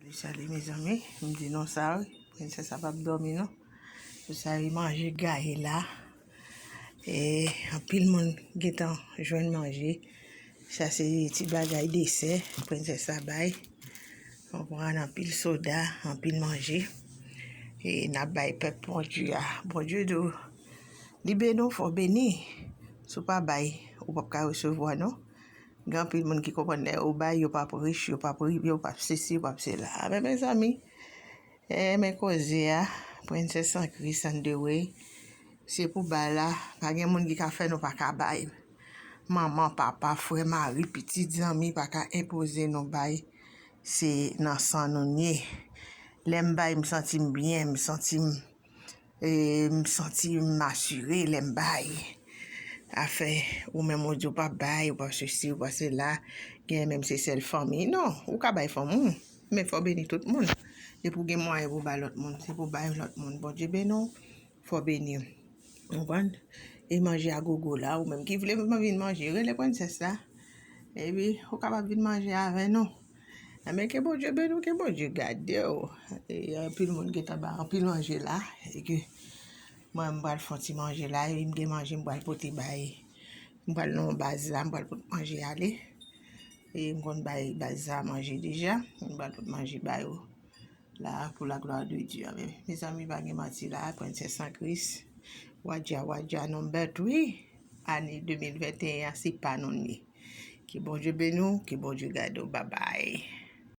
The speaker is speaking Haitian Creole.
Salut salut mes amis, m di non sa wi, princesse sa pap dormi non. Pou sa yi manje gaye la. E anpil moun getan jwenn manje. Sa se ti bagay dese, princesse sa bay. On pran anpil soda, anpil manje. E nap bay pep bon Dieu a. Bon Dieu do li beni ou fò beni. Sou pa bay ou pap ka resevwa non. Gen anpil moun ki konprann lè yo bay yo pap rich, yo pap rive, yo pap sesi, yo pap sela. A men mezanmi, e men koze a, Princess an Christ and the way, se pou bay la, pa gen moun ki ka fè nou pa ka bay. Manman, papa, frè, mari, pitit, zanmi pa ka enpoze nou bay, se nan san nou n ye. Lè m bay m santi m byen, m santi m. M santi m asire lè m bay. Afè ou menm ou di ou pa p bay, ou pa p sesi, ou pa p sela, genyen menm se sèl fanmi. Non, ou ka bay fanmi w, men fò w beni tout moun. Depi w gen mwayen pou w bay lòt moun, se pou w bay lòt moun. Bondye beni w, fò w beni. Ou konprann? E manje a gogo la, ou menm ki vle vin manje, rele prensès la. Epi, ou kapab vin manje avè nou. Amen ke Bondye beni w ke Bondye gade w e anpil moun gentan ba anpil manje la e ke mwen m pral fon ti manje la e m gen manje m pral pote bay m pral nan baz la m pral pote manje ale e m konn bay baz la manje deja m pral pote manje bay yo La pou la glwa de Dye amen. Mezanmi pa gen manti la a Princess an Kris Wadja Wadja nou bèt wi Ane 2021 an se pa nou li ye Ke Bondye beni w ke Bondye gade w babay.